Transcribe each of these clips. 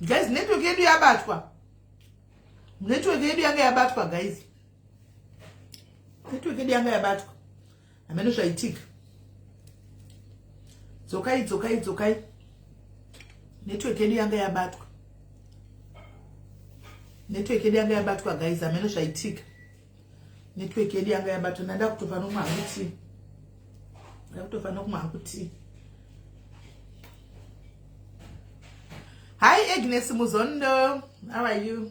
guys network yedu yabatwa network yedu yanga yabatwa guys network yedu yanga yabatwa hameno zvaitika dzokai dzokai dzokai network yedu yanga yabatwa network yedu yanga yabatwa guys hameno zvaitika network yedu yanga yabatwa ndanda kutofa nomwe hakuti nda kutofa nokumwe hakuti hi agnes muzondo how are you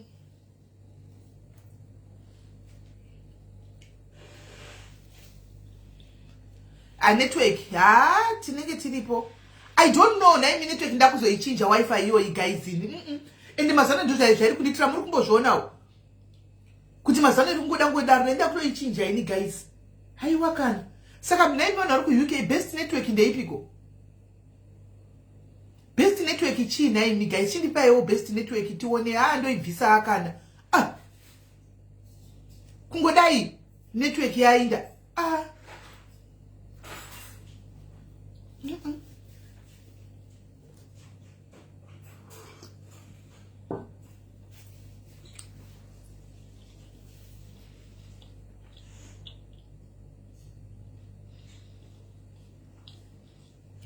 a network ha tinenge tiripo i don't know naimi network ndakuzoichinja wifi iyoyi gaizini mm -mm. ende mazano ndo zvairi kunditira muri kumbozvionawo kuti mazano iri kungoda ngodaro naenda kutoichinja ini guys haiwa kana saka mnaimi vanhu vari kuuk best network ndeipiko best network chii nhaimi guys chindipaiwo best network tione haa ndoibvisa akana ah. kungodai network yainda ah. mm -mm.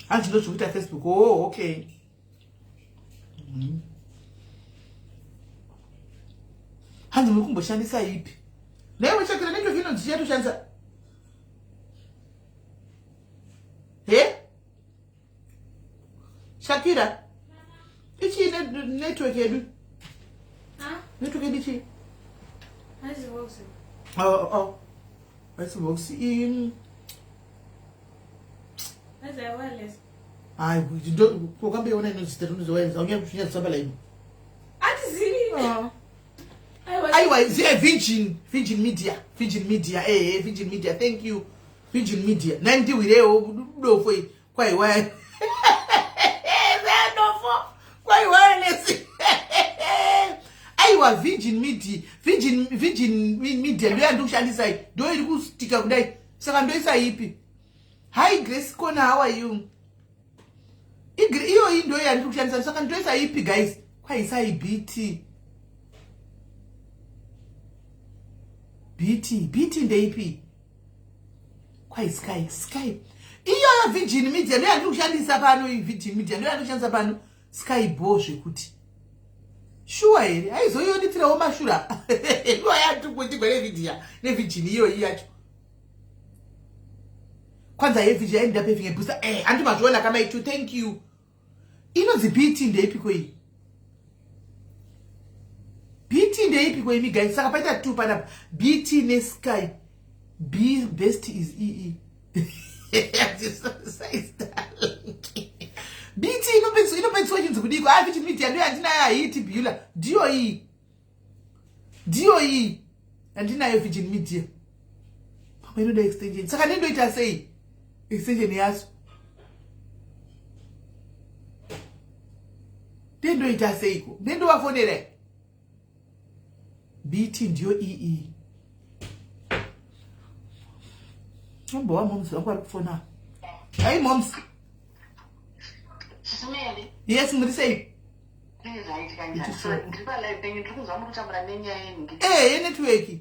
hanzi ndozvikuita facebook oh okay mm. hanzi muri kumboshandisa ipi naiwe chakira neto vino ndichatoshandisa he shakira ichii network yedu network yedu chii aisivox oh, oh. iyi hayi kokambeiona inozitaunyaakuchinyazisabalaini aiwa ziya virgin virgin media virgin media ehe virgin media thank you virgin media nai ndihwirewo dofo i kwaiwaya dofo kwaiwaya nesi aiwa virgin media virgin virgin media ndoyandikushandisai ndo iri kustika kudai saka ndoisa ipi hi grace kona how are you iyoyi ndoyo yandiri kushandisa saka ndoisa ipi guys kwaisai bt bt bt ndeipi kwai sky sky iyoyo virgin media ndoyandiri kushandisa pano iyi virgin media ndoyandiri kushandisa pano Sky bho zvekuti shuwa here aizoyonitirawo mashura iwa yatukutigwa nevidhiya nevhijini iyoyi yacho kwanza yevhiji yainda pevinge bhusa e eh, andimazviona kamai to thank you inonzi bt ndeipiko iyi bt ndeipiko imi gai saka paita two panapa bt nesky b best is ee bt inopedziswa chinzi kudiko a vit media ndiyo yandinayo haii tibula ndiyo iyi ndiyo iyi yandinayo virgin media pamwe inoda extension saka nendoita sei extension yacho ndendoita seiko ndendovafonera bt ndiyo iyi ambova moms vangu vari kufona hai moms yes muri sei ee eh, yenetworki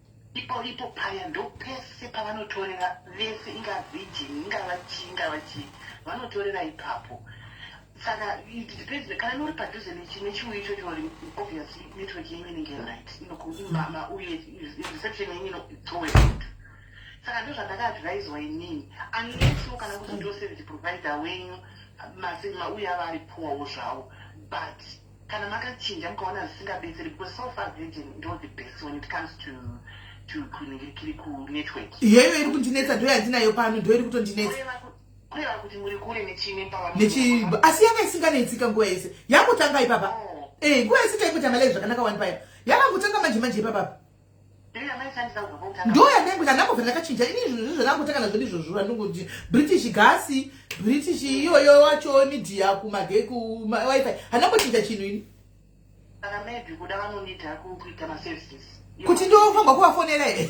Ipo ipo paya ndopese pavanotorera vese inga virgin ingava chii ingava chii vanotorera ipapo saka it depends kana nori padhuze nechiuyu ichocho uri obviously network yenyu inenge right mama uye reception yenyu inotowe out saka ndo zvandakaadviswa inini unlesswo kana kuti ndo service provider wenyu masinma uye ava ari poorwo zvavo but kana makachinja mukaona zvisingabetseri because so far virgin ndo the best when it comes to kuningirikiri kunetwork iyoyo iri kundinetsa ndo yandinayo pano ndo iri kutondinetsa kureva kuti muri kure nechimipavanechibo asi yanga isinganetsika nguva yese yakutanga ipapa oh. eh, nguva yese taikuita malai zvakanaka wani paya yakangotanga manje manje ipapapa ndo yandangu ndakambobva ndakachinja ini izvozvo zvandangotakana zvedu izvozvo vandongoti british gasi british iyoyo wacho midia kumage kuwifi handambochinja chinhu ini kuti ndofanirwa kuvafonera here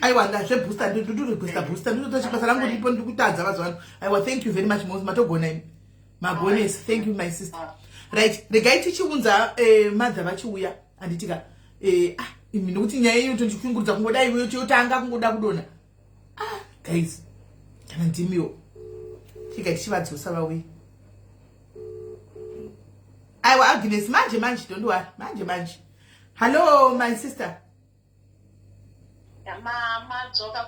aiwa ndazve booster ndiri booster booster ndinoita chibasa rangu ripo ndiri kutadza mazuva ano aiwa thank you very much mos matogona imi magonesi thank you my sister ah. right regai tichiunza eh, madha vachiuya handitika eh, ah, imi nokuti nyaya iyo tondichikungurudza kungoda iwe yotanga kungoda kudona ah, guys kana ndimiwo tika tichivadzosa vauye aiwa agnes manje manje don't worry manje manje hallo my sister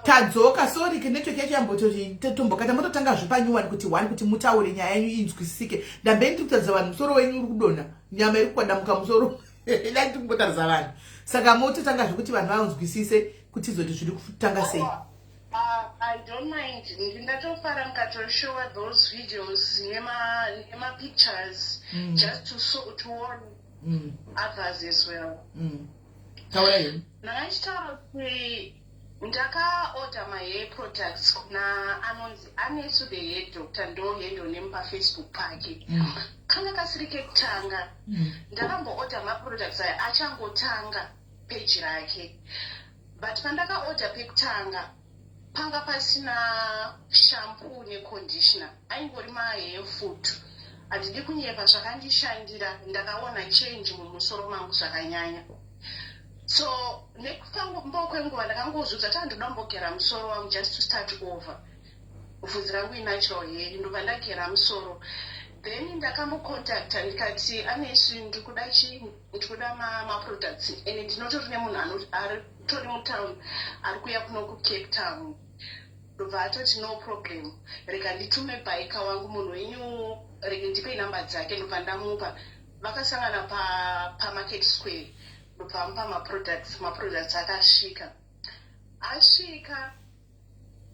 tadzoka sorry network yacho yambototombokata mototanga zvepanyuwani kuti one kuti mutaure nyaya yenyu inzwisisike ndambe ndiri kutaridza vanhu musoro wenyu uri kudonha nyama iri kukwadamuka musoro dai tiri kumbotaridza vanhu saka mototanga zvekuti vanhu vanzwisise kuti izoti zviri kutanga sei I don't mind. Ndatofara mukatoshowa those videos nema nema pictures mm. just to so, to warn mm. others as well. Mm. taura hemu ndakachitaura kuti ndakaorder mahair products kuna anonzi anesu the hair doctor ndohendo nemupa facebook pake mm. kanga kasiri kekutanga mm. ndakamboorder maproducts aya achangotanga peji rake but pandakaorder pekutanga panga pasina shampoo neconditioner aingori mahefoot handidi kunyepa zvakandishandira ndakaona change mumusoro mangu zvakanyanya so nekufambo kwenguva ndakangozudza ta ndoda mbogera musoro wangu just to start over bvunzi rangu inatural hair ndobva ndagera musoro then ndakambocontacta ndikati anesu ndikuda chii ndikuda maproducts ende ndinotori nemunhu ari Tony mutown ari kuya kuno kucape town ndobva atoti no problem rega nditume bhaika wangu munhu wenyu rege ndipe inamba dzake ndobva ndamupa vakasangana pamarket pa square ndobva amupa maproducts maproducts akasvika asvika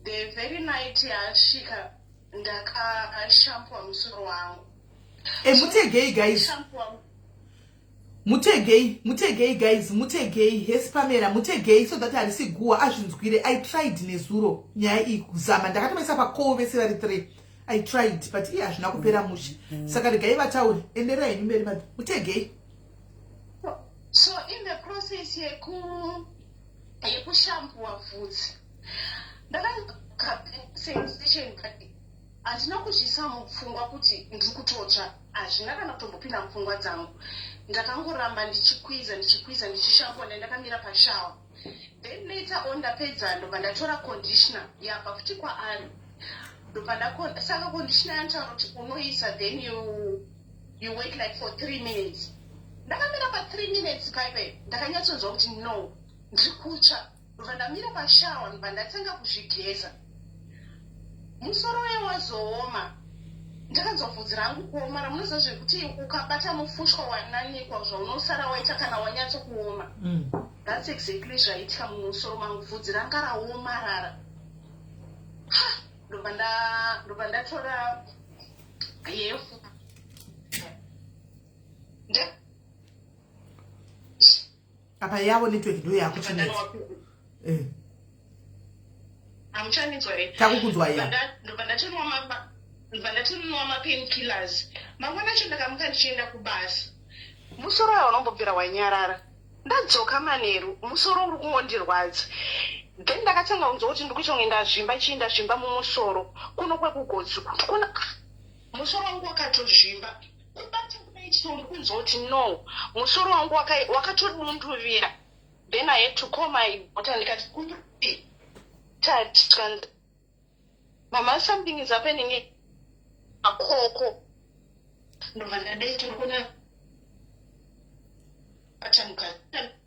the very night yaasvika ndakashampua musoro wangu e, mutegei guys mutegei mutegei guys mutegei hesi pamera mutegei so that harisi guwa azvinzwire i tried nezuro nyaya iyi kuzama ndakatomaisa pakowo vese vari three i tried but iye hazvina kupera mushe saka regai vatauri endera henyu mberi mad mutegei so in the process yeku yekushambua vhudzi ndakasensation but handina kuzviisa mupfungwa kuti ndiri kutotsva hazvina kana kutombopinda mupfungwa dzangu ndakangoramba ndichikwiza ndichikwiza ndichishambwa nda ndakamira pashawa then later on ndapedza ndobva ndatora conditioner yabva futi kwaari ndobva ndasaka conditioner yanotaura kuti unoisa then you, you wait like for three minutes ndakamira pathree minutes paipe ndakanyatsonzwa kuti no ndiri kutsva ndobva ndamira pashawa ndobva ndatanga kuzvigeza musoro uye wazooma ndakanzwa bvudzi rangu kuoma ramunoziva zvekuti ukabata mufushwa wananikwa zvaunosara waita kana wanyatso kuoma mm. thats exactly zvaitika mumusoro mangu bvudzi ranga raomarara ndobva ndatora yefu apa yavo network ndiyo yakuchinetsa eh. hamuchanitswa here takukunzwa ya ndobva ndatinwa mamba ndobva ndatinwa mapain killers mangwana acho ndakamuka ndichienda kubasa musoro waya unombobvira wanyarara ndadzoka manheru musoro uri kungondirwadza then ndakatanga kunzwa kuti ndikuita kunge ndazvimba chii ndazvimba mumusoro kuno kwekugodzi kuona musoro wangu wakatozvimba Kubata kudai chero uri kunzwa kuti no musoro wangu waka- wakatodunduvira then i had to call my daughter ndikati "Kupi?" tati tikanzi mama something is happening here?" akoko ndobva ndadai tiri kuona atamukati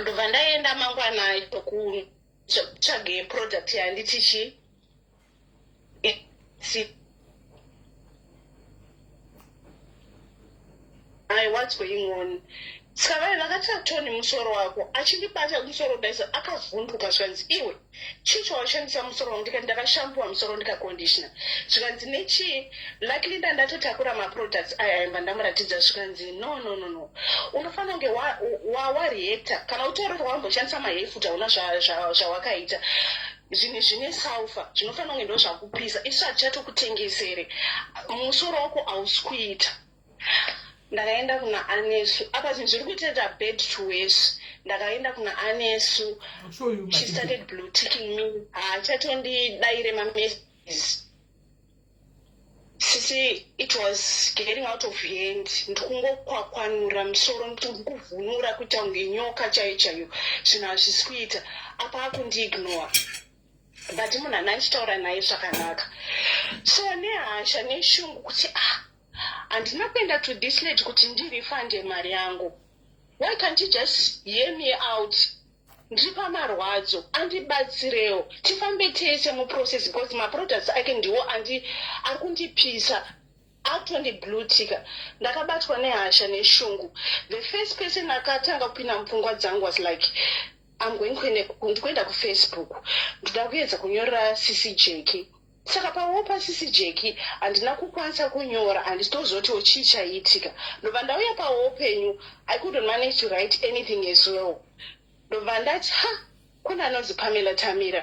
ndobva ndaienda mangwana kutsvage product yanditichi i what's going on saka vave vakati atoni musoro wako achindibata musoro daisa akavhunduka zvanzi iwe chii chawashandisa musoro wangu ndikati ndakashampuwa musoro ndikakondishona zvikanzi nechii luckily nda ndatotakura maproducts aya aimba ndamuratidza zvikanzi no no no no unofanira kunge wareactor kana utaura kuti wamboshandisa mahefuta una zvawakaita zvinhu zvine salfa zvinofanira kunge ndo zvakupisa isu hatichatokutengesere musoro wako hausi kuita ndakaenda kuna anesu apa zvinhu zviri kutoita bad to worse ndakaenda kuna anesu she started blue ticking me haachatondidaire mamessages sisi it was getting out of hand ndikungokwakwanura musoro ndikuvhunura kuita kunge nyoka chaiyo chaiyo zvinhu hazvisi kuita apa akundiignore but munhu ana ndichitaura naye zvakanaka so nehasha neshungu kuti ah handina kuenda to this lady kuti ndirifande mari yangu why can't you just hear me out ndiri pamarwadzo andibatsirewo tifambe tese muprocess because maproducts ake ndiwo ari kundipisa atondiblutika ndakabatwa nehasha neshungu the first person akatanga kupinda mupfungwa dzangu was like amgoinkuenda kufacebook ndoda kuedza kunyorera sisi jeki Saka pawopa sisi Jeki handina kukwanisa kunyora handisi tozotiwo chii chaiitika ndobva ndauya pawo upenyu I couldn't manage to write anything as well ndobva ndati ha kune anonzi Pamela Tamira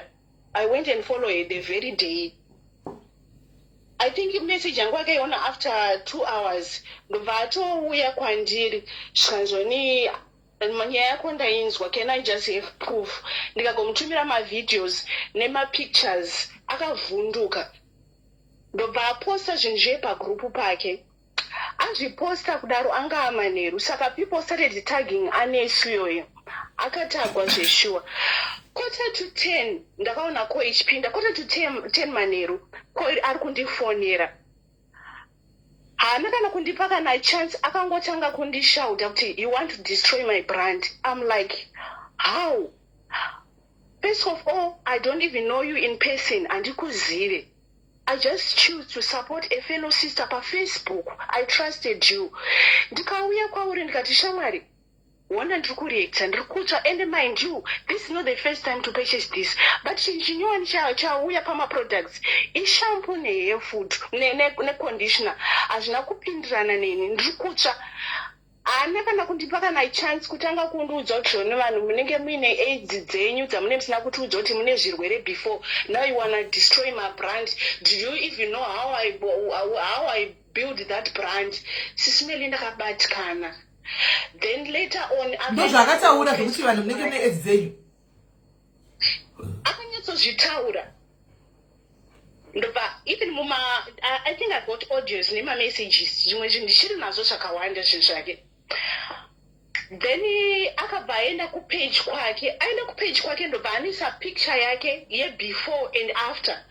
I went and follow her the very day I think message yangu akaiona after two hours ndobva atouya kwandiri zvikanzoni Nyaya yako ndainzwa can I just have proof ndikagomutumira mavideos nemapictures akavhunduka ndobva aposta zvinhu zviye pagrupu pake azviposta kudaro anga amanheru saka people started tagging anesu iyoyo akatagwa zveshuwa quarter to ten ndakaona ko ichipinda quarter to ten, ten manheru ko ari kundifonera haana kana kundipa kana chance akangotanga kundishauta kuti you want to destroy my brand im like how first of all i don't even know you in person handikuzive i just choose to support a fellow sister pafacebook i trusted you ndikauya kwauri ndikati shamwari Hona ndiri kureactor ndiri kutsva and mind you this is not the first time to purchase this but chinhu chinyowani chauya pamaproducts ishampo nehair food neconditioner hazvina kupindirana neni ndiri kutsva haana kana kundipa kana chance kutanga kundiudza kuti zvone vanhu munenge muine aids dzenyu dzamune musina kutiudza kuti mune zvirwere before now you wanna destroy my brand do you even know how i, how I build that brand sismeli ndakabatikana then later on ndozvaakataura zvekuti vanhu munenge mune edzi dzenyu akanyatsozvitaura ndobva even muma i think i got audios nemamessages zvimwe zvinhu ndichiri nazvo zvakawanda zvinhu zvake then akabva aenda kupage kwake aenda kupage kwake ndobva anisa picture yake yebefore and after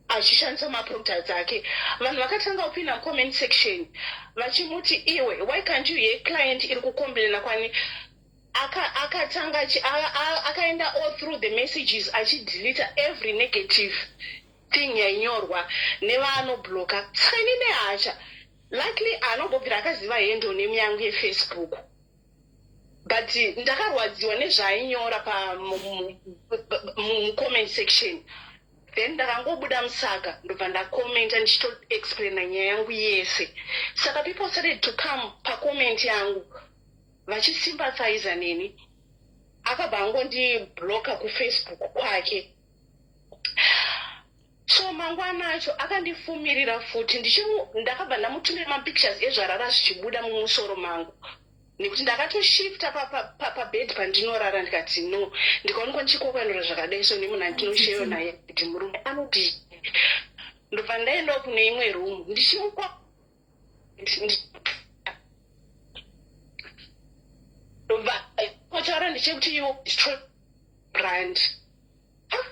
achishandisa maproducts ake vanhu vakatanga kupinda mucomment section vachimuti iwe why can't you ye client iri kukomplaina kwani akatanga akaenda all through the messages achidelita every negative thing yainyorwa nevaanobloka saka ini nehacha likely anobobvira akaziva hendo nemi yangu yefacebook but ndakarwadziwa nezvaainyora pamucomment section then ndakangobuda musaka ndobva ndacommenta ndichitoexplaina nyaya yangu yese saka people started to come pacomment yangu vachisympathiza neni akabva angondibloka kufacebook kwake so mangwana acho akandifumirira futi ndakabva ndamutumira mapictures ezvarara zvichibuda mumusoro mangu nekuti ndakatoshifta pabed pandinorara ndikati no ndikaonekwa ndichikokwanura zvakadai so nemuna ndinosheyo naye kuti murume anoti ndobva ndaendawo kune imwe room ndichimukwa kotaura ndechekuti you destroy brand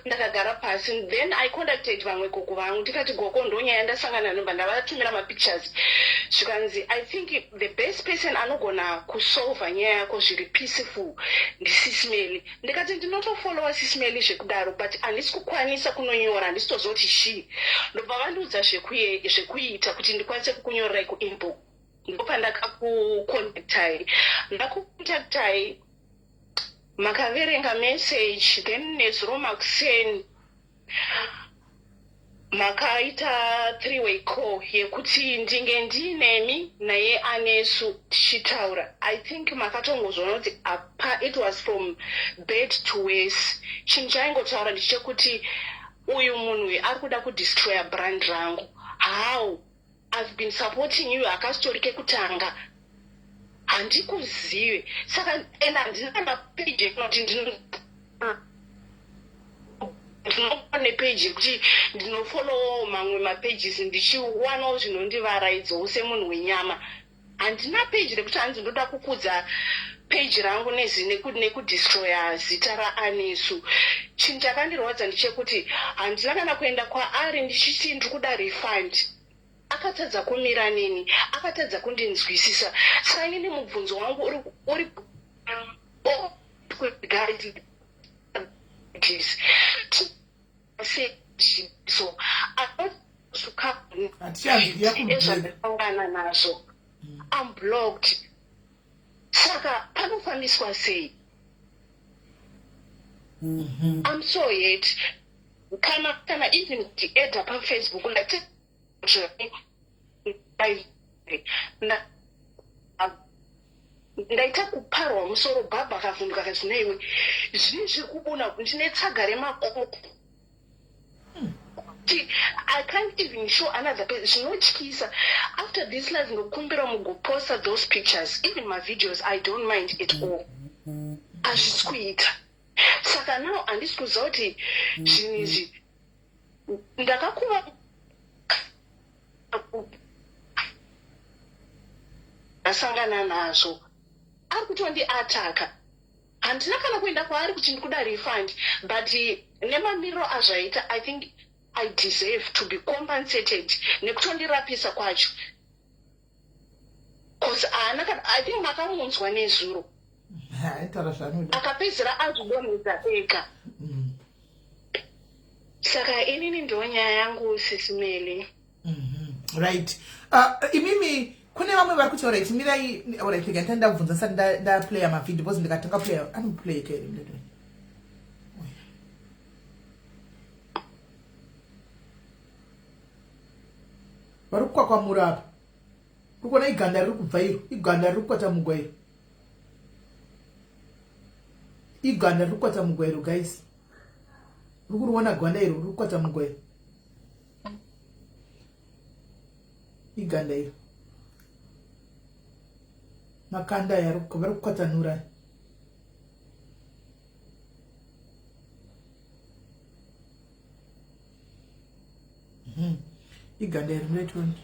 ndakagara pasi then i contacted vamwe gogo vangu ndikati gogo ndonyaya ndasangana nomba ndavatumira mapictures zvikanzi i think the best person anogona kusolva nyaya yako zviri peaceful ndisismely ndikati ndinotofollowa sismeli zvekudaro but handisi kukwanisa kunonyora handisi tozoti chii ndobva vandiudza zvekuita kuti ndikwanise kukunyororai kuinbox ndopandakakukontaktai ndakukontaktai makaverenga message then nezuro makuseni makaita three way call yekuti ndinge ndiinemi naye anesu tichitaura i think makatongozvona kuti apa it was from bed to wese chinhu chaingotaura ndichekuti uyu munhu uyu ari kuda kudestroya brand rangu how I've been supporting you hakasitori kekutanga handikuzive saka and handina mapeji ekunoti ndino ndinopa nepeji yekuti ndinofollowawo mamwe mapages ndichiwanawo zvinondivaraidzo semunhu wenyama handina page rekuti hanzi ndoda kukudza page rangu nekudestroya zita raanesu chinhu chakandirwadza ndichekuti handina kana kuenda kwaari ndichiti ndiri kuda refund akatadza kumira neni akatadza kundinzwisisa saka inini mubvunzo wangu uri, uri ezvandakaungana nazvo mm. am blocked saka panofambiswa sei mm-hmm. am so yet kana kana even ndieda pafacebook ndati ndaita kuparwa musoro bhabha akavhunduka kati neiwe zvii zviri kubuna kuti ndine tsaga remakoko kuti i can't even show another person zvinotyisa after this life ndokumbira mugoposta those pictures even mavideos i don't mind at all hazvisi kuita saka now handisi kuziva kuti zvinhu izvi ndakakuva ndasangana nazvo ari kutondiataka handina kana kuenda kwaari kuti ndikuda refund but nemamiriro azvaita i think i deserve to be compensated nekutondirapisa kwacho cause haana kana i think makamunzwa nezuro aitaura zvaanoda akapedzera azvidonhedza ega mm. saka inini ndo nyaya yangu sisimeli mhm. right uh, imimi kune vamwe vari kuti orit mirai orit rega ndita ndabvunza sati ndaplaya mavideo bcause ndikatanga playa anoplaya ke vari kukwakwamura apa urikuona iganda riri kubva iro iganda riri kukwatamugwa iro iganda riri kukwatamugwa iro guys uri kuriona gwanda iro riri kukwatamugwa iro iganda iro makanda aya vari kukwatanura aya Hmm. iganda iri muretoni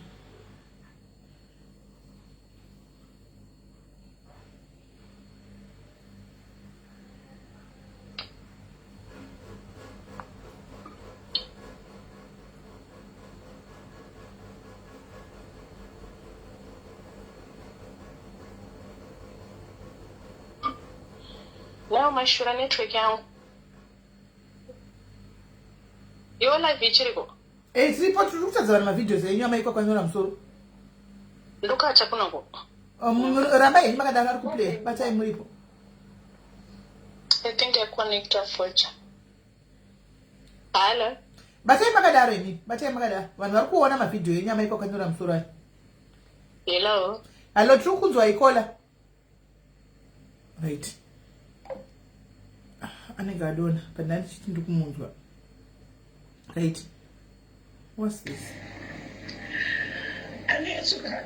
Now my shura network yangu Your life ichiriko. Eh, tiripo tiri kutadza vanhu mavideos enyu amaikwa kwanyora musoro. Ndokacha kuno ko. Um, ramba henyu makadaro ari kuplay batai muripo. I think I connect a fortune. Hello. Batai makadaro imi, batai makadaro. Vanhu vari kuona mavideo enyu amaikwa kwanyora musoro ayo. Hello. Hello, tiri kunzwa ikola. right ah, anenge adona but ndandichiti ndikumunzwa right what's this anetsuka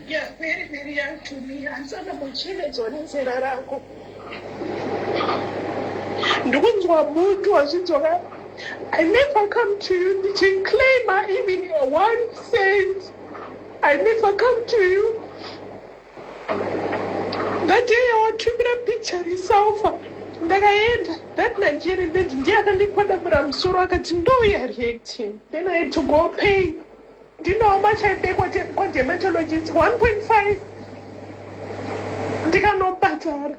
ya very very young to me hansana muchemedzwa nenzera rako ndikunzwa mutu wazvidzoka i never come to you ndichinclaima even one cent I never come to you. That day yawatumira picture resalfa ndakaenda that Nigerian lady ndiye akandikwadamura musoro akati ndouya reacting then I had to go pay ndinawo machaende kwadermatologist 1.5 ndikanobhadhara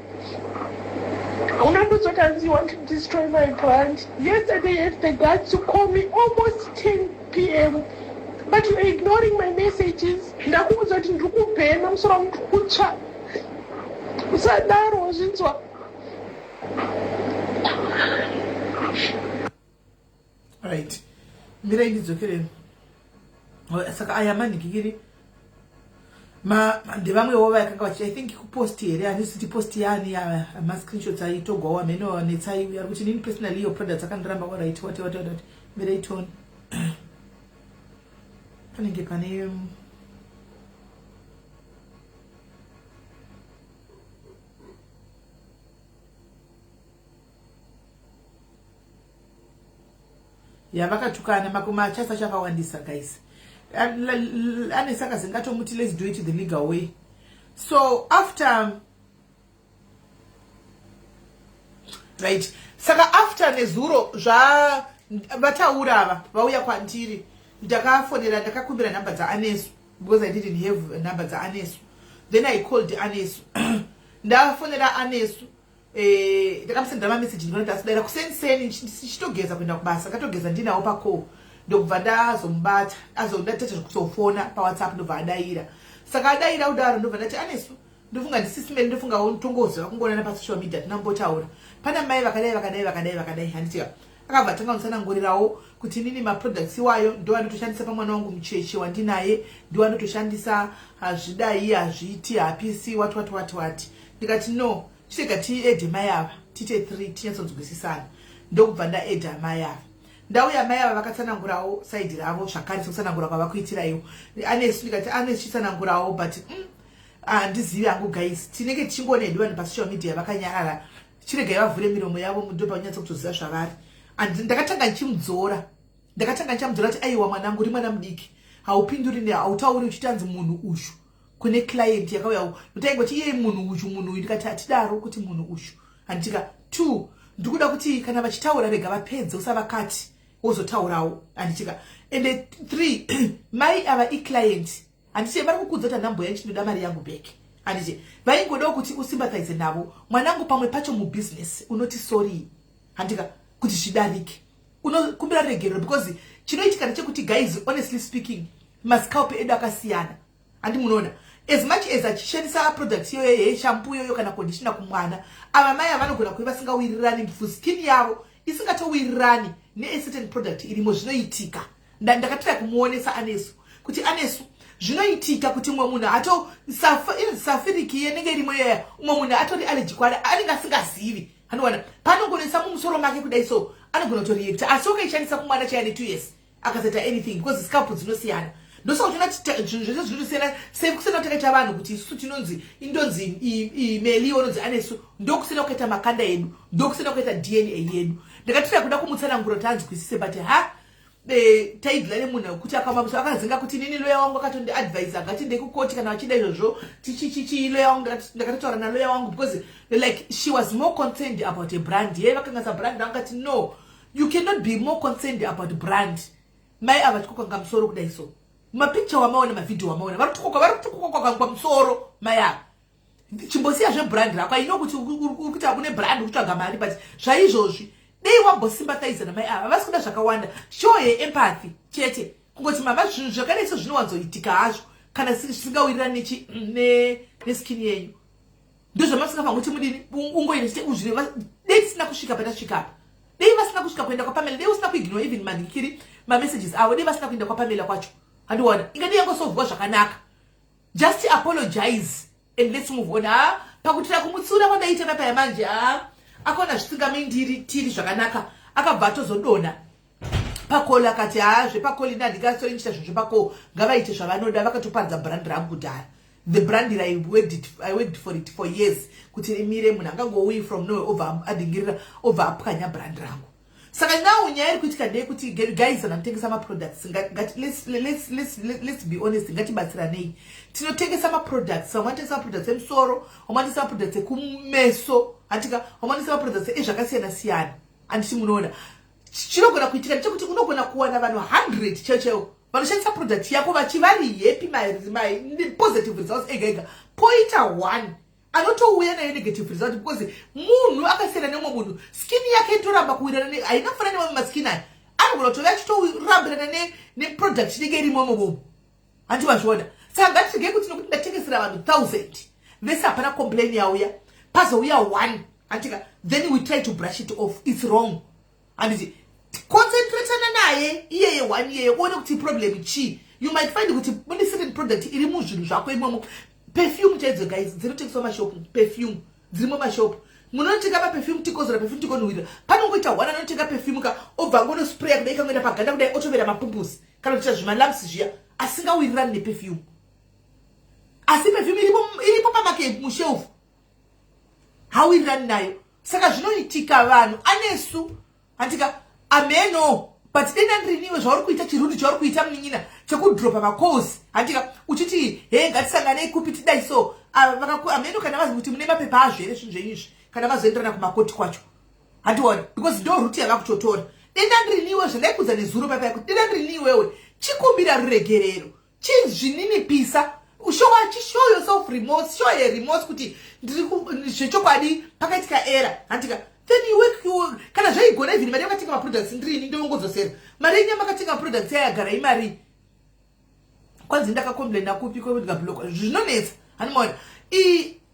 unandozotanzi you want to destroy my brand yesterday had the guts to call me almost 10 pm but you're ignoring my messages ndakuudza kuti ndiri kubhema musoro wangu ndiri kutsva usadaro wazvinzwa right mirai ndidzokereni oh, saka aya manhikikiri ndevamwewo vakanga vachi i think kupost here handisi ti post yani ya mascreenshots aitogwawo amene wanetsai ari kuti nini personally iyo products akandiramba waright wati wati wati mirai tone panenge pane um, yavakatukana makoma achasa chakawandisa guys ane saka zingatomuti let's do it the legal way so after right saka after nezuro zva vataura ava vauya kwandiri ndakafonera ndakakumbira nhamba dzaanesu because i didn't have nhamba dzaanesu then i called anesu ndafonera anesu eh, ndakamusendera mameseji ndinoita asidaira kuseni seni ndichitogeza kuenda kubasa katogeza ndinawo pacall ndokubva ndazomubata azondatete zvekuzofona pawhatsapp ndobva adaira saka adaira kudaro ndobva ndati anesu ndofunga ndisisimeli ndofunga tongoziva kungoonana pasocial media tinambotaura pana mai vakadai vakadai vakadai vakadai handitia akabva atanga kutsanangurirawo kuti inini maproducts iwayo ndo andotoshandisa pamwana wangu mucheche wandinaye ndo andotoshandisa hazvidai hazviiti hapisi wati wati wati wati ndikati no chitega tiede mai ava tiite three tinyatsonzwisisana ndokubva ndaeda mai ava ndau yamai ava vakatsanangurawo saidi ravo zvakare sekutsanangura kwava kuitiraiwo anesu ndikati anesu tichitsanangurawo but mm, handizivi hangu guys tinenge tichingoona hedu vanhu pasocial media vakanyarara chiregai vavhure miromo yavo mudhobha vanyatsa kutoziva zvavari and ndakatanga ndichimudzora ndakatanga ndichamudzora kuti aiwa mwanangu uri mwana mudiki haupinduri ne hautauri uchitanzi munhu ushu kune client yakauya mutaingo ti iyei munhu ushu munhu uyu ndikati hatidaro kuti munhu ushu handitika two ndikuda kuti kana vachitaura rega vapedze usavakati wozotaurawo handitika ende three mai ava iclient handiti vari kukuudza kuti anambuya ichi ndoda mari yangu back handiti vaingodawo kuti usimbataize navo mwanangu pamwe pacho mubusiness unoti sorii handika kuti zvidarike unokumbira regerero because chinoitika ndechekuti guys honestly speaking mascalpe edu akasiyana handi munoona as much as achishandisa product iyoyo yeshampu iyoyo kana kondishina kumwana ava mai avanogona kuve vasingawirirani mfu skin yavo isingatowirirani necertain product irimo zvinoitika ndakatira kumuonesa anesu kuti anesu zvinoitika kuti umwe munhu ato safiriki yenenge irimo yeya umwe munhu atori aleji kwari anenge asingazivi anowana panongonesa mumusoro make kudai so anogona kutoreacta asi okaishandisa kumwana chaya netwo years akasaita anything because scalp dzinosiyana ndosaka tona zvinhu zvese zvinotosiyana sekusiyana takaita vanhu kuti isusu tinonzi indonzi meli ononzi anesu ndokusiyana kukaita makanda edu ndokusiyana kukaita dna yedu ndakatira kuda kumutsanangura kuti anzwisise but ha taidla nemunhu wekuti akamabisa akazinga kuti nini loya wangu akatondiadvisa ngati ndekukoti kana vachida izvozvo tichichichii loya wangu ndakatotaura naloya wangu because like she was more concerned about a brand yeye vakangasa brand vangati no you cannot be more concerned about brand mai ava tikukanga musoro kudai so mapicture wamaona mavhidhio wamaona vari kutukoka vari kutukoka kwakangwa musoro mai ava chimbosiya zvebrand rako i know kuti uri kuita kune brand kutsvaga mari but zvaizvozvi dei wambosimbataiza namai ava havasi kuda zvakawanda show yeempathy chete kungoti mama zvinhu zvakadai so zvinowanzoitika hazvo kana zvisingawirirani neskin yenyu ndozvamasingafanira kuti mudini ungoine chete uzvireva dei tisina kusvika patasvikapa dei vasina kusvika kuenda kwapamela dei usina kuignore even mandikiri mamessages avo dei vasina kuenda kwapamela kwacho handiona ingadei yangosovhuwa zvakanaka just apologize and let's move on ha ah, pakutira kumutsiura kwandaiita papa yamanje ha ah, akaona zvisingamindiri tiri zvakanaka akabva atozodona pakoli akati ha ah, zvepakoli ini handingasori ndichita zvinhu zvepakoo ngavaite zvavanoda vakatoparidza brand rangu kudhara the brand that I worked, it, I worked for it for years kuti imire munhu angangouyi from nowhere obva adingirira obva apwanya brand rangu saka now nyaya iri kuitika ndeye kuti guys kana kutengesa maproducts let's be honest ngatibatsiranei tinotengesa maproducts vamwe vanotengesa maproducts emusoro vamwe vanotengesa maproducts ekumeso hatika vamwe vanotengesa maproducts ezvakasiyana siyana anditi munoona chinogona kuitika ndechekuti unogona kuwana vanhu 100 chaivo chaivo vanoshandisa product yako vachivari happy mapositive results ega ega poita one anotouya nayo negative result because munhu akasiyana nemwe munhu skin yake itoramba kuwirana ne haina kufana nemamwe maskin aya anogona kutove achitorambirana neproduct inenge irimo momomo handi vazviona saka ngatirege kuti nokuti ndatengesera vanhu thousand vese hapana complain yauya pazouya one antika then we try to brush it off its wrong handiti concentratana naye iyeye one iyeye uone kuti problem chii you might find kuti mune certain product iri muzvinhu zvako imomo perfume chaidzo guys dzinotengeswa mashopu perfume dzirimo mashopu munhu anotenga maperfume tikozora perfume tikonhuhwirira panongoita one anotenga perfume ka obva ngonospraya kudai kangoenda paganda kudai otovera mapumpusi kana kuita zvimalamps zviya asingawirirani neperfume asi perfume iripo pamakeup mushelf hawirirani nayo saka zvinoitika vanhu anesu handika ameno but denda ndiriniwe zvauri kuita chirundi chauri kuita munin'ina chekudropa macalls handika uchiti he ngatisanganei kupi tidai so ameno kana vazi kuti mune mapepa azvo here zvinhu zvenyu izvi kana vazoenderana kumakoti kwacho handiwani because ndo ruti yava kutotora denda ndiriniwe zvandaikudza nezuro paipai kuti denda ndiriniwewe chikumbira ruregerero chizvininipisa ushowa chishow yourself remorse show ye remorse kuti ndiri zvechokwadi pakaitika era hantika then you work you kana zvaigona even mari yakatenga maproducts ndirini ndongodzosera mari yenyu yamakatenga maproducts yayagara imari kwanzi ndakacomplaina kupi kwekundikabloka zvinonetsa hanimona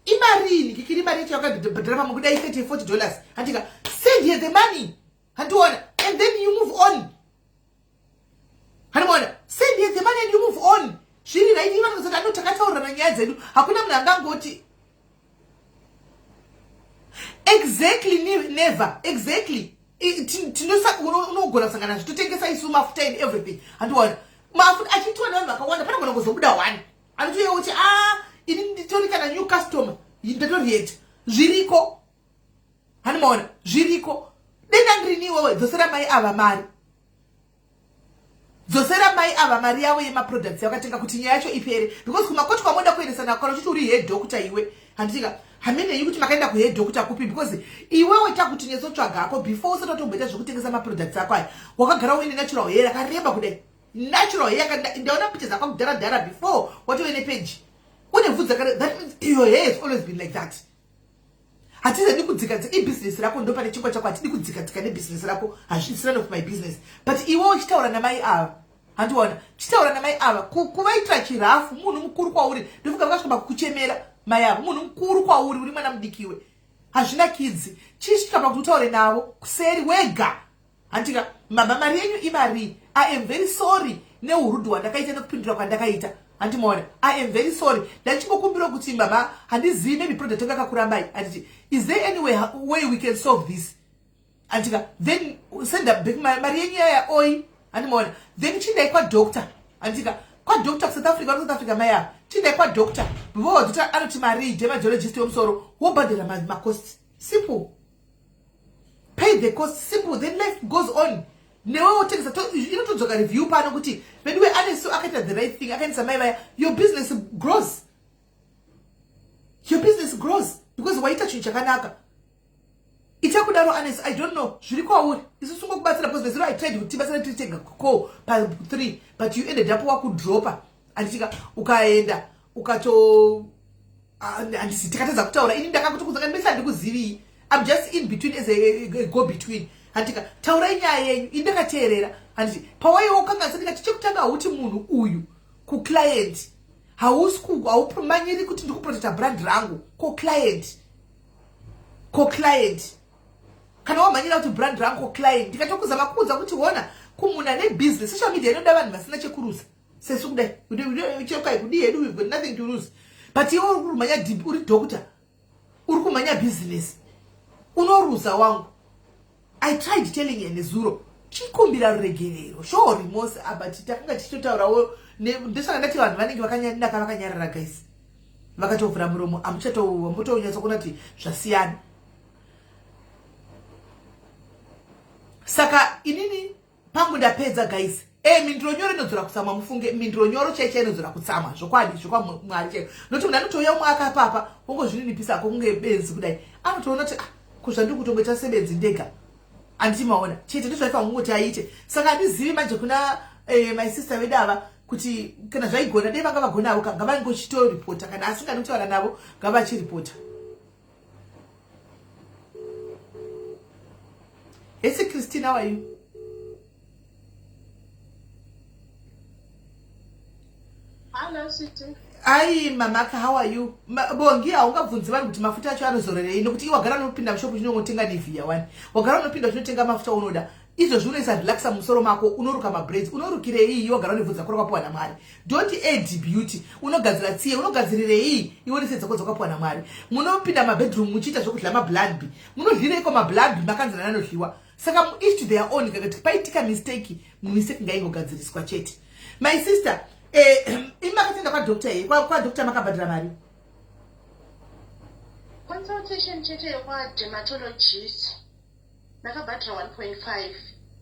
imarini kikiri mari yacho yakabhadhara pamwe kudai 30 40 dollars hantika send here the money handiona and then you move on hanimona send the money and you move on zviri right iva nozoti ano takataurirana nyaya dzedu hakuna munhu angangoti exactly never exactly tinogona kusangana zvi totengesa isu mafuta and everything handiona mafuta achitiwa nevanhu vakawanda panogona kuzobuda one anotoyeuti a ah, ini nditori kana new customer ndatorieta zviriko hanimaona zviriko denda ndirini iwewe dzosera mai ava mari dzosera mai ava mari yavo yemaproducts yakatenga kuti nyaya yacho ipere because kumakoti kwamoda kuendesa nakwana uchiti uri head doctor iwe handitika hameneyi kuti makaenda kuhead doctor kupi because iwewe takuti netsotsvaga hako before usati watomboita zvekutengesa maproducts ako aya wakagara uine natural hair akareba kudai natural hair ndaona picha dzakwa kudhara dhara before watove nepeji une vhudzi that means your hair has always been like that hatizadi kudzika dzika ibusiness rako ndo pane chingwa chako hatidi kudzika dzika nebusiness rako hazvisina nof my business but iwe uchitaura namai ava handiona chitaura namai ava kuvaitira chirafu munhu mukuru kwauri ndofunga vakasvika pakukuchemera mai avo munhu mukuru kwauri uri mwana mudikiwe hazvina kidzi chisvika pakuti utaure navo kuseri wega Hantika mama mari yenyu imari. I am very sorry neurudo hwandakaita nekupindura kwandakaita. Hanti maona I am very sorry. Ndachimbokumbira kuti mama handizivi maybe product yanga kakurambai. Handiti is there any way, way we can solve this? Handika then send up back mari yenyu yaya oi. Hanti maona then chindai kwa doctor. Handika kwa doctor South Africa vari South Africa maya. Chindai kwa doctor. Bvo doctor anoti mari ije mageologist wemusoro wobhadhara makosti. Simple. pay the cost simple then life goes on newe wotengesa inotodzoka review pano kuti veduwe anesu akaita the right thing akaendesa mai vaya your business grows your business grows because waita chinhu chakanaka ichakudaro anesu i don't know zviri kwauri isu sungokubatsira because veziro i tried kuti tibatsira tiri tega ko pa three but you ended up wakudropa anditika ukaenda ukato handisi tikatadza kutaura ini ndakakutukudza ka ndimese handikuzivi im just in between as a go between handika taurai nyaya yenyu ini ndakateerera handiti pawaiwo kanganisa ndikati chekutanga hauti munhu uyu kuclient hausi haumanyiri kuti ndikuprotecta brand rangu ko client ko client kana wamhanyira kuti brand rangu ko client ndikatokuzama kuudza kuti hona kumuna nebusiness social media inoda vanhu vasina chekurusa sesu kudai chekai kudii hedu we've got nothing to lose but iwe uri kumhanya dhimbi uri doctor uri kumhanya business unoruza wangu i tried telling her nezuro chikumbira ruregerero sure remorse aba titakanga tichitotaurawo ndosaka ndati vanhu vanenge vakanyadaka vakanyarara guys vakatovhura muromo amuchatouwa mutounyatsa kuona kuti zvasiyana saka inini pangu ndapedza guys e mindiro nyoro inodzora kutsamwa mufunge mindiro nyoro chai chai inodzora kutsamwa zvokwadi zvokwamwari chaiyo nokuti munhu anotouya umwe akapapa wongozvininipisa ako kunge benzi kudai anotoona kuti ah, kuzvandiri kutongoita sebenzi ndega anditi maona chete ndozvaifa kungoti aite saka andizivi manje kuna eh, my sister vedu ava kuti kana zvaigona dei vanga vagonavo ka ngavaingochitoripota kana asingadi kuti vana navo ngavachiripota Hey, Christine, how are you? Hello, Sweetie. Ayi mamaka how are you? Bongi haungabvunzi vanhu kuti mafuta acho anozorerei nokuti iwe wagara unopinda mushopu chinongotenga Nivea wani. Wagara unopinda uchinotenga mafuta unoda. izvo zvinoisa relaxa musoro mako unoruka mabraids unorukireii iwe gara unebvudzi rako rakapuwa namwari don't add beauty unogadzira tsiye unogadzirirei iwe nese dzako dzakapuwa namwari munopinda mabedroom muchiita zvekudya mabladby munodlireiko mabladby makanzana anodliwa saka muish to their own kakati paitika mistake mistake ngaingogadziriswa chete my sister eh, imakatenda kwadoctor ye kwadoctor makabhadhira mari consultation chete yekwadermatologist ndakabhadhira 1.5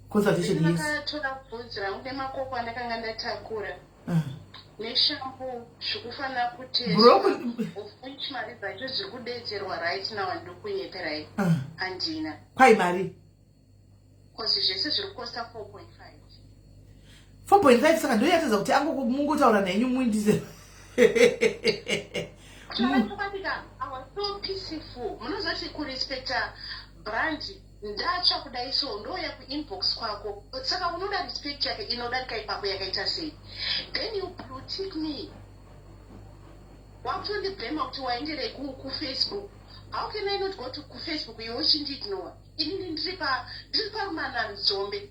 consultation yes ndakatora bvunzi rangu nemakoko andakanga ndatakura ah. neshambu zvikufanira kutezvaofuch mari dzacho zviri kudedzerwa right now ndokunyeperai ah. handina kwai mari bcause zvese zviri kukosta 4.5 4.5 saka ndiyo yatadza kuti ango mungotaura nenyu muindize ndatsva kudai so ndouya kuinbox kwako saka unoda respect yake inodarika ipapo yakaita sei then you blutik me wakutondibhema kuti waenderei kufacebook how can i not go to kufacebook iwe uchindiignowa inini ndiri parumananzombe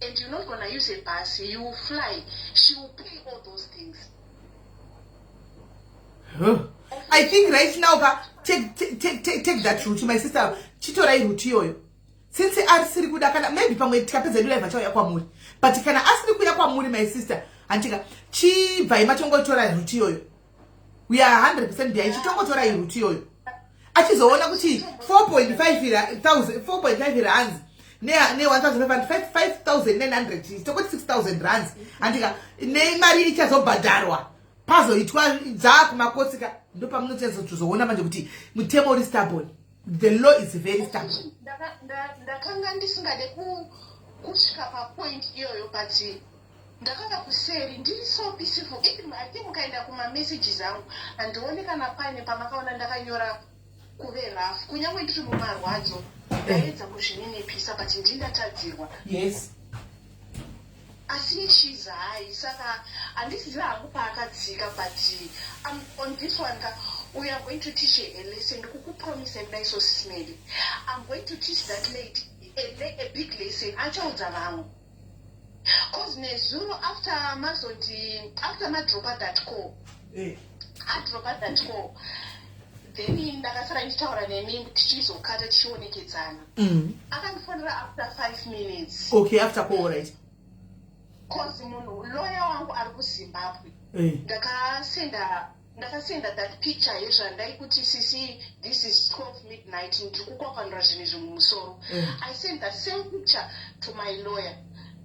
and you're not gonna use a bus you will fly she will pay all those things huh. i think right now pa take, take, take, take, take that route my sister chitorai route iyoyo since asiri kuda kana maybe pamwe tikapedza yedu live achauya kwamuri but kana asiri kuya kwamuri my sister hantika chibvai matongoitora route iyoyo we are 100 percent behind chitongotora iruti iyoyo achizoona kuti 4.5 rands ne-1500 tokoti 6000 rands andika nemari ichazobhadharwa pazoitwa dzaa kumakotsika ndopamunozoona manje kuti mutemo uri stabon the law is very stabon ndakanga ndisingade kusvika papoint iyoyo but Ndakanga kuseri ndiri so peaceful even I think mukaenda kuma messages angu handione kana paine pamakaona ndakanyora kuve rough kunyange ndiri mumarwadzo ndaedza kuzvininipisa but ndii ndatadzirwa yes asi ishiza hayi saka handisiziva hangu paakatsika but um, on this one ka we are going to teach a lesson ndikukupromise kudai so sismedi i'm going to teach that lady a, a big lesson achaudza vamwe cause nezuro after mazoti after madropa that call eh. adropa that call then ndakasara ndichitaura nemi tichizokata tichionekedzana mm. akandifonera after five minutes okay after call right cause munhu loya wangu ari kuzimbabwe eh. ndakasenda ndakasenda that picture yezvandai kuti sisi this is 12 midnight ndiri kukwapanura zvinhu izvi mumusoro mm. i send that same picture to my lawyer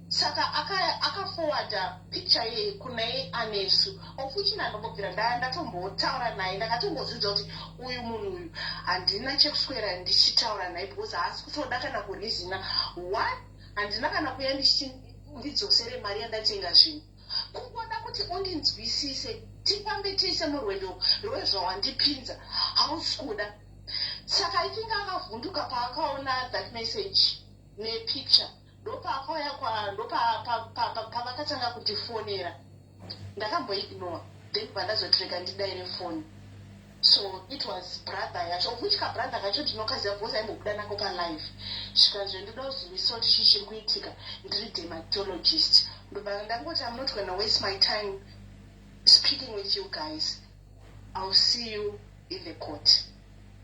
saka akafowarda aka picture yeye kunai anesu ofuchina ndokubvira ndaya ndatombotaura naye ndakatombozvidza kuti uyu munhu uyu handina chekuswera ndichitaura naye because haasi kutoda kana kurizina one handina kana kuya ndichiti ndidzosere mari yandatenga zvinhu Kungoda kuti undinzwisise tifambe tese murwendo rwezvawandipinza hausi kuda. Saka itinga akavhunduka paakaona that message nepicture ndopaakauya ndopavakatanga kundifonera ndakamboignore then vandazotirega ndidaire foni. so it was brother yacho of which kabrother kacho ndinokaziva because aimbobuda nako palive zvikanzve ndoda kuzivisawo kuti chii chiri kuitika ndiri dermatologist ndoba ndangoti am not gonna waste my time speaking with you guys ill see you in the court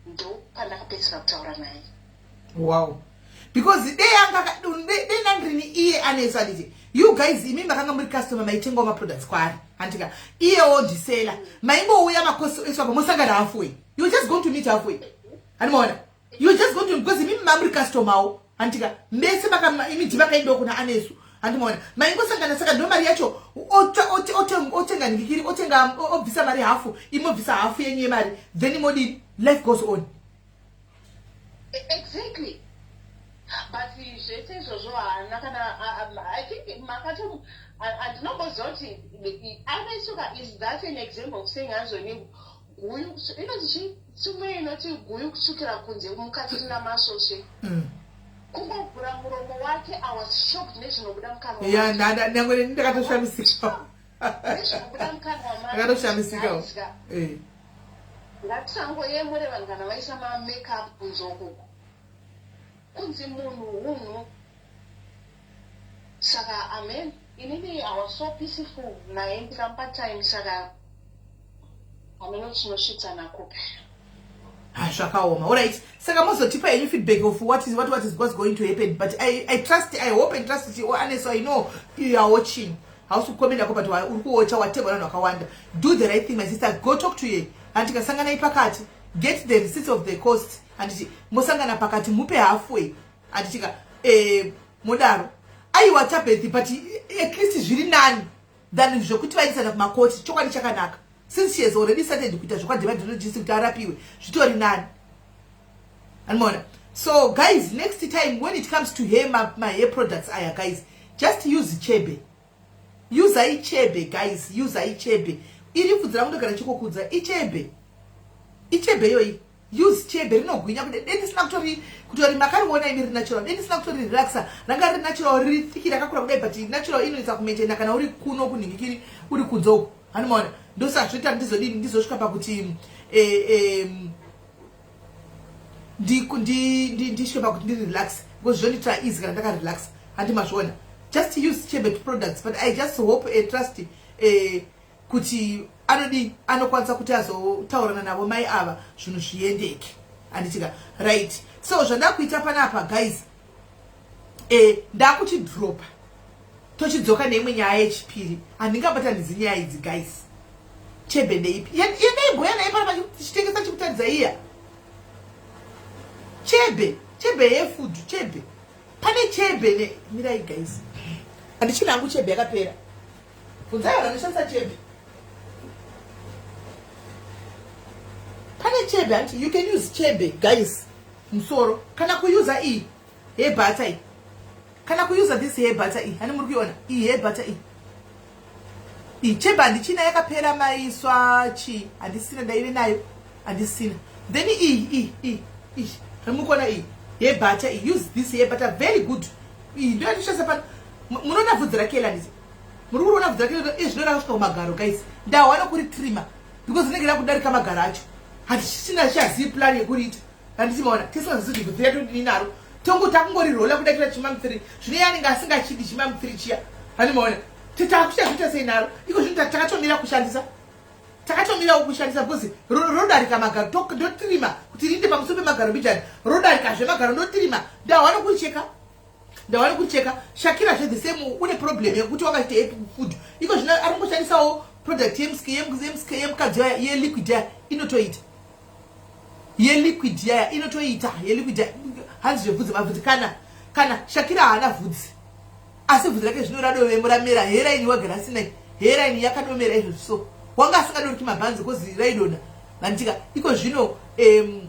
ndo pandakapedzisira kutaura naye wow because dei anga dei nandrini iye anesu anditi you guys imi makanga muri customer maitengawo maproducts kwaari handika iyewo ndisela maingouya makosi esu apa mosangana halfway you just going to meet halfway handimaona you just going to because imi mamuri customerwo handika mese imi dhi makaindawo kuna anesu handimaona maingosangana saka ndo mari yacho otenga ndikiri otenga obvisa mari hafu imobvisa hafu yenyu yemari then modini life goes on Exactly. But zvese izvozvo haana kana I think makato andinomboziva kuti anesuka is that an example of saying hanzvoni guyu inoti chi tsume inoti guyu kutsvukira kunze mukati rina masvosve mm. kungovhura muromo wake i was shocked nezvinobuda mukanwa yeah, ndakatoshamisika akatoshamisikawo eh. ngatisangoyemure vanhu kana vaisa mamakeup kunze ukuku kunzi munhu hunhu saka amen inini i was so peaceful naye ndikamupa time saka hameno tinosvitsa nakupi ha zvakaoma orit saka mozotipa henyu feedback of what is, what, what is, was going to happen but I, i trust i hope and trust kuti oaneso oh, i know you are watching hausi kukomendako but uri kuocha wategwa nanhu akawanda do the right thing my sister go talk to ye and tikasangana ipakati get the receipts of the cost anditi mosangana pakati mupe halfway anditika eh, modaro aiwa tabethi but at least zviri nani than zvekuti vaendesana kumakoti chokwadi chakanaka since she has already started kuita zvekwademanologist kuti arapiwe zvitori nani anmona so guys next time when it comes to hair my, my hair products aya guys just use chebe usa ichebe guys usa ichebe iri pfudzi rakundo kana chikokudza ichebe ichebe yoyi use chebe rinogwinya kuti dei ndisina kutori kutori makariona imi rinatural dei ndisina kutori relaxa ranga riri natural riri thiki rakakura kudai but natural inoita kumaintaina kana uri kuno kunhingikiri uri kunze uku hanimaona ndosaka zvoita ndizodii ndizosvika pakuti eh, eh, ndisvike pakuti ndiri relax because zvondiitira easy kana ndakarelax handi mazviona just use chebet products but i just hope a eh, trust eh, kuti anodii anokwanisa kuti azotaurana navo mai ava zvinhu zviendeke anditika right so zvandakuita panapa guys e, ndakuchidropa tochidzoka neimwe nyaya yechipiri handingabatanidzi nyaya idzi guys chebe ndeipi yendaibhoya naye panapa tichitengesa chikutadza iya chebe chebe yefudu chebe pane chebe ne mirai guys handichina hangu chebe yakapera Bvunzai vanhu vanoshandisa chebe. Pane chebe hanti you can use chebe guys musoro kana kuyuza iyi yebhata iyi kana kuyuza this yebhata iyi hani muri kuiona iyi yebhata iyi iyi chebe handichina yakapera maiswa chii handisina ndaive nayo handisina then iyi iyi iyi iyi hamukuona iyi yebhata iyi use this yebhata very good iyi ndoyatishandisa pano munoona vhudzi rakela ndizi muri kuona bvudzi rake yoto izvino rakasvika kumagaro guys ndahwa nokuri trima because rinenge rakudarika magaro acho hatichina chazii plan yekuriita handichimaona tisingazizi kuti bvudzi redu ndini naro tonguti akungorirola kuda kuita chimamupfiri zvine yanenge asingachidi chimamupfiri chiya handimaona titakuchazviita sei naro iko zvino takatomira kushandisa takatomirawo kushandisa bcause rodarika magaro ndotirima kuti rinde pamusoro pemagaro bijani rodarika zvemagaro ndotirima ndahwa nokuricheka ndawana kucheka shakira zve the same une problem yekuti wakaita happy food iko zvino ari kungoshandisawo product yemukadzi yaya yeliquid yaya inotoita yeliquid yaya inotoita yeliquid yaya hanzi zvebvudzi mabvudzi kana kana shakira haana vhudzi asi vhudzi rake zvino radovemo ramera heraini wagara asina heraini yakadomera izvo so wanga asingadoriki mabhanzi kozi raidona vanditika iko zvino um,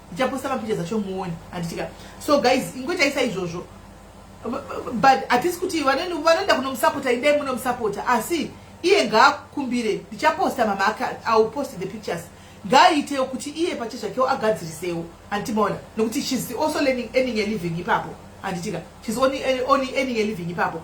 ndichaposta mapicha dzacho muone handitika so guys ingoitaisa izvozvo but hatisi kuti vanoenda kunomusapota idai munomusapota asi iye ngaakumbire ndichaposta mama ake iwill post the pictures ngaaitewo kuti iye pache zvakewo agadzirisewo handimaona nokuti shes also learning earning a living ipapo handitika shes only earning a living ipapo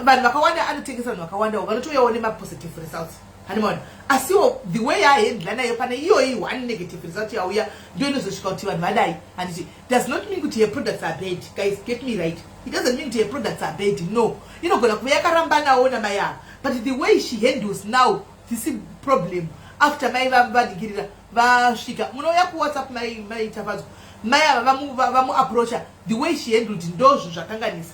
vanhu vakawanda anotengesa vanhu vakawandawo vanotouyawo nemapositive results Hanimona. Asiwo the way yahendla nayo pane iyoyi one negative result yauya ndio inozosvika kuti vanhu vadai handiti does not mean kuti her products are bad guys get me right it doesn't mean kuti her products are bad no inogona kuve yakarambanawo namai ava but the way she handles now this problem after mai vadikirira vasvika munouya kuwhatsapp mai mai tafadzwa mai ava vamuapproacha the way she handled ndozvo zvakanganisa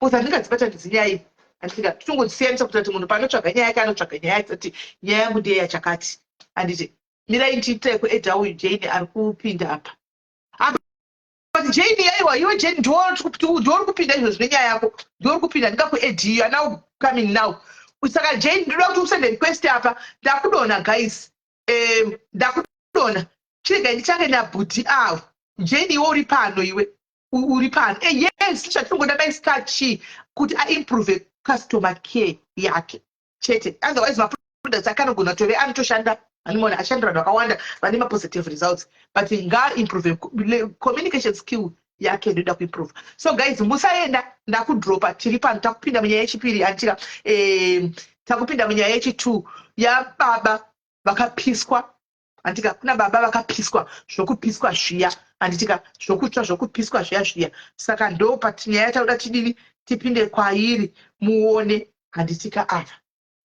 Coz handingadzibatanidzi nyaya iyi handika totongodzisiyanisa kuti ati munhu paanotsvaga nyaya yake anotsvaga nyaya yake kuti nyaya yangu ndiye yachakati handiti mirai ndiitire kueda uyu jane ari kupinda apa but jane yaiwa iwe jane ndiori kupinda izvo zvine nyaya yako ndiori kupinda ndingakuedi iyo anau coming now saka jane ndinoda kuti usende request apa ndakudona guys um, ndakudona chirega ndichange nabhudhi avo jane iwe uri pano iwe uri pano e, yes chatinongoda mai stachi kuti aimprove customer care yake chete otherwise maproducts akanogona tove anotoshanda animona ashandira vanhu vakawanda vane mapositive results but ngaimprove communication skill yake ndoda kuimprove so guys musaenda ndakudropa tiri pano takupinda munyaya yechipiri antika eh, takupinda munyaya yechitwo yababa vakapiswa handitika kuna baba vakapiswa zvokupiswa zviya handitika zvokutsva zvokupiswa zviya zviya saka ndo pati nyaya tauda tidini tipinde kwairi muone handitika ava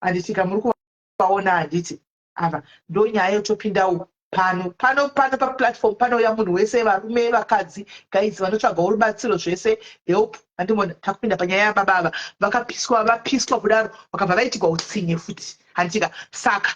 handitika muri kuvaona handiti ava ndo nyaya yotopindawo pano pano pano paplatform panouya munhu wese varume vakadzi gaizi vanotsvagawo rubatsiro zvese help handimona takupinda panyaya yababa ava vakapiswa vapiswa kudaro vakabva vaitigwa utsinye futi handitika saka